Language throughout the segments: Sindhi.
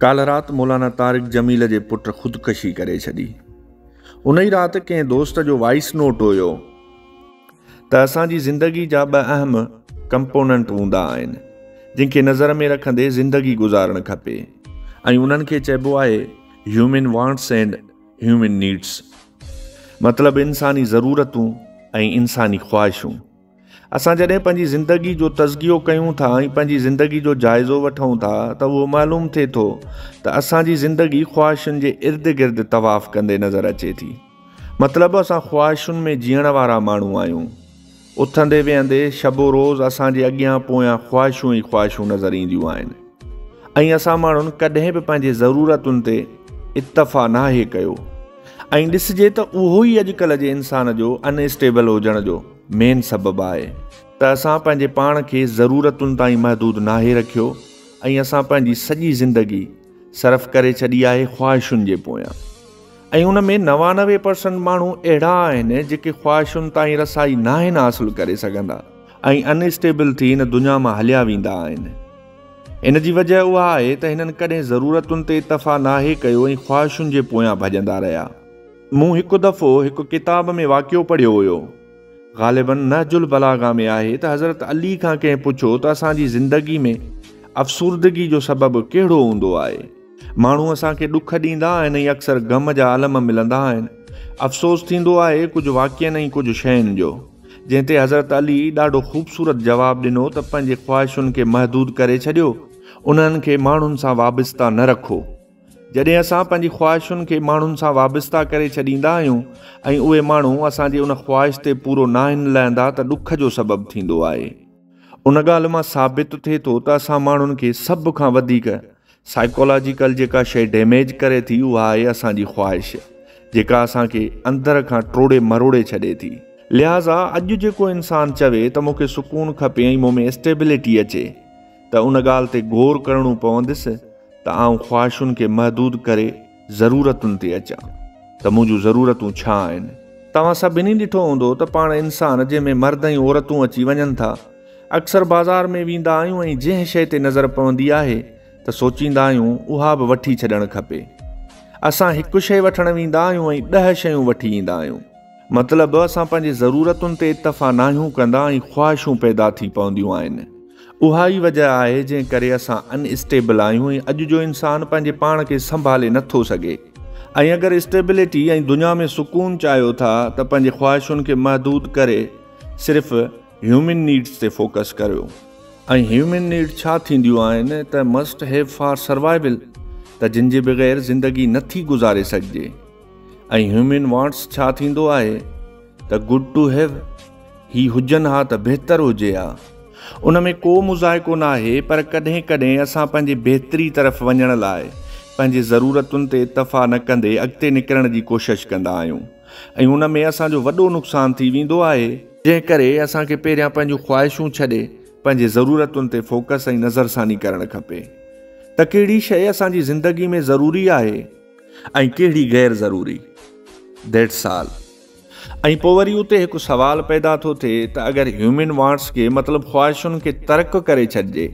ڪالهه رات مولانا طارق جميل جي پٽ خودڪشي ڪري ڇڏي. ان ئي رات ڪنهن دوست جو وائيس نوٽ هيو ته اسان جي زندگي جا ٻه اهم ڪمپوننٽ هوندا آهن جن کي نظر ۾ رکندي زندگي گذارڻ کپي ۽ انهن کي چئبو آهي human wants and human needs مطلب انساني ضرورتون ۽ انساني خواهشون. اسان جڏهن پنهنجي زندگي جو تزڪيو ڪيون ٿا ۽ پنهنجي زندگي جو جائزو وٺون ٿا ته اهو معلوم ٿئي ٿو ته اسان جي زندگي خواهشن جي ارد گرد طواف ڪندي نظر اچي ٿي. مطلب اسان خواهشن ۾ جيئڻ وارا ماڻهو آهيون. اٿندي ويهندي شب و روز اسان جي اڳيان پويان خواهشون ئي خواهشون نظر اينديون آهن ۽ اسان ماڻهن ڪڏهن به پنهنجي ضرورتن تي اڪتفا ناهي ڪيو ۽ ڏسجي ته اهو ئي اڄڪلهه جي انسان جو ان اسٽيبل هجڻ جو مين سبب آهي ته اسان پنهنجي پاڻ کي ضرورتن تائين محدود ناهي رکيو ۽ اسان پنهنجي سڄي زندگي صرف ڪري ڇڏي آهي خواهشن جي پويان ۽ ان ۾ نوانوي پرسنٽ ماڻهو اهڙا آهن جيڪي خواهشن تائين رسائي ناهن حاصل ڪري سگهندا ۽ ان اسٽيبل ٿي هن دنيا مان هليا ويندا آهن ان جي وجه اها آهي ته هنن ڪڏهن ضرورتن تي اتفاق ناهي ڪيو ۽ خواهشن جي پويان ڀڄندا رهيا مون هڪ دفعو هڪ ڪتاب ۾ واقعو پڙهيو هيو، غالباً نهج البلاغه ۾ آهي ته حضرت علي کان ڪنهن پڇيو ته اسان جي زندگي ۾ افسردگي جو سبب ڪهڙو هوندو آهي؟ ماڻهو اسان کي ڏک ڏيندا آهن ۽ اڪثر غم جا عالم ملندا آهن. افسوس ٿيندو آهي ڪجهه واقعن ۽ ڪجهه شين جو. جنهن تي حضرت علي ڏاڍو خوبصورت جواب ڏنو ته پنهنجي خواهشن کي محدود ڪري ڇڏيو، انهن کي ماڻهن سان وابسته نه رکو. جڏهن اسان پنهنجي خواهشن کي ماڻهن سان وابسته ڪري ڇڏيندا آهيون ۽ اهي ماڻهو اسان جي ان خواهش تي پورو ناهن لهندا ته ڏک جو سبب ٿيندو آهي. ان ڳالهه مان ثابت ٿئي ٿو ته اسان ماڻهن کي سڀ کان وڌيڪ سائيڪالاجيڪل جيڪا شيء ڊيميج ڪري ٿي اها آهي اسان جي خواهش جيڪا اسان کي اندر کان ٽوڙي مروڙي ڇڏي ٿي. لهٰذا اڄ جيڪو انسان چوي ته مون کي سڪون کپي ۽ مون ۾ اسٽيبلٽي اچي، ته ان ڳالهه تي غور ڪرڻو پوندس ته آئون خواهشن کي محدود ڪري ضرورتن تي اچان ته منهنجون ضرورتون ڇا آهن؟ توهان سڀني ڏٺو هوندو ته پاڻ انسان جنهن ۾ مرد ۽ عورتون اچي وڃن ٿا اڪثر بازار ۾ ويندا آهيون ۽ جنهن شيء تي نظر پوندي آهي ته سوچيندا آهيون اها به وٺي ڇڏڻ کپي اسان هڪ شيء وٺڻ ويندا آهيون ۽ ڏهه شيون وٺي ايندا آهيون مطلب اسان پنهنجي ضرورتن تي اتفا ناهيون ڪندا ۽ خواهشون پيدا ٿي پونديون آهن. اها ئي وجه آهي جنهن ڪري اسان ان اسٽيبل آهيون ۽ اڄ جو انسان پنهنجي پاڻ کي سنڀالي نه ٿو سگهي ۽ اگر اسٽيبلٽي ۽ دنيا ۾ سڪون چاهيو ٿا ته پنهنجي خواهشن کي محدود ڪري صرف هيومن نيڊس تي فوڪس ڪريو ۽ هيومن نيڊ ڇا ٿينديون آهن ته مسٽ هيو فار سروائيول ته جن جي بغير زندگي نه ٿي گذاري سگهجي. ۽ هيومن وانٽس ڇا ٿيندو آهي ته گڊ ٽو هيو هي هجن ها ته بهتر هجي ها ان ۾ ڪو مذائقو نه آهي پر ڪڏهن ڪڏهن اسان پنهنجي بهتري طرف وڃڻ لاء پنهنجي ضرورتن تي اتفا نه ڪندي اڳتي نڪرڻ جي ڪوشش ڪندا آهيون ۽ ان ۾ اسان جو وڏو نقصان ٿي ويندو آهي جنهن ڪري اسان کي پهريان پنهنجون خواهشون ڇڏي پنهنجي ضرورتن تي فوڪس ۽ نظرثاني ڪرڻ کپي ته ڪهڙي شيء اسان جي زندگي ۾ ضروري آهي ۽ ڪهڙي غير ضروري. That's all. ۽ پوء وري اتي هڪ سوال پيدا ٿو ٿئي ته اگر هيومن وانٽس کي مطلب خواهشن کي ترڪ ڪري ڇڏجي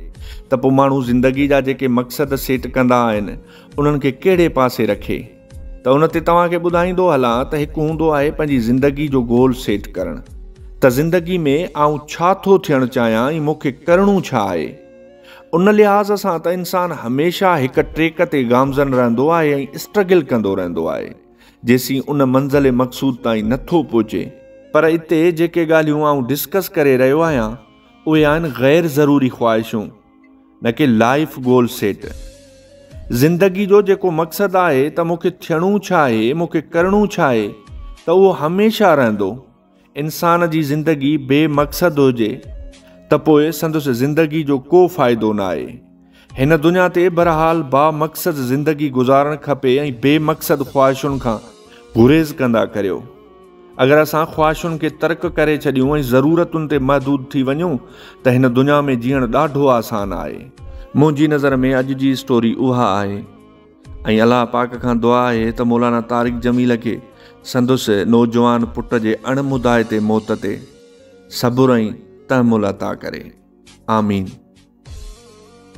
ته پوء ماڻهو زندگي جا جيڪي مقصد سيٽ ڪندا آهن انهن کي ڪهڙي پاسي رکي ته ان تي توهان کي ٻڌائيندو هلان ته هڪ هوندو آهي پنهنجي زندگي جو گول سيٽ ڪرڻ ته زندگي ۾ آئون ڇا ٿو ٿيڻ چاهيان ۽ مون کي ڪرڻو ڇا آهي. ان لحاظ سان ته انسان هميشه هڪ ٽريڪ تي گامزن رهندو آهي ۽ اسٽرگل ڪندو رهندو آهي جيسين ان منزل مقصود تائين نه ٿو پهچي. پر اتي جيڪي ڳالهيون آئون ڊسڪس ڪري رهيو آهيان اهي آهن غير ضروري خواهشون نه ڪي لائيف گول سيٽ. زندگي جو جيڪو مقصد آهي ته مون کي ٿيڻو ڇا آهي مون کي ڪرڻو ڇا آهي ته اهو هميشه رهندو. انسان جي زندگي بي مقصد هجي ته پوء سندس زندگي جو ڪو فائدو نه آهي. هن دنيا تي بهرحال با مقصد زندگي گذارڻ کپي ۽ بي مقصد خواهشن کان گريز ڪندا ڪريو. اگر اسان خواهشن کي ترڪ ڪري ڇڏيون ۽ ضرورتن تي محدود ٿي وڃون ته هن دنيا ۾ جيئڻ ڏاڍو آسان آهي. منهنجي نظر ۾ اڄ جي اسٽوري اها آهي. ۽ الله پاڪ کان دعا آهي ته مولانا طارق جميل کي سندس نوجوان پٽ جي اڻ مدائتي موت تي صبر ۽ تحمل عطا ڪري. آمين.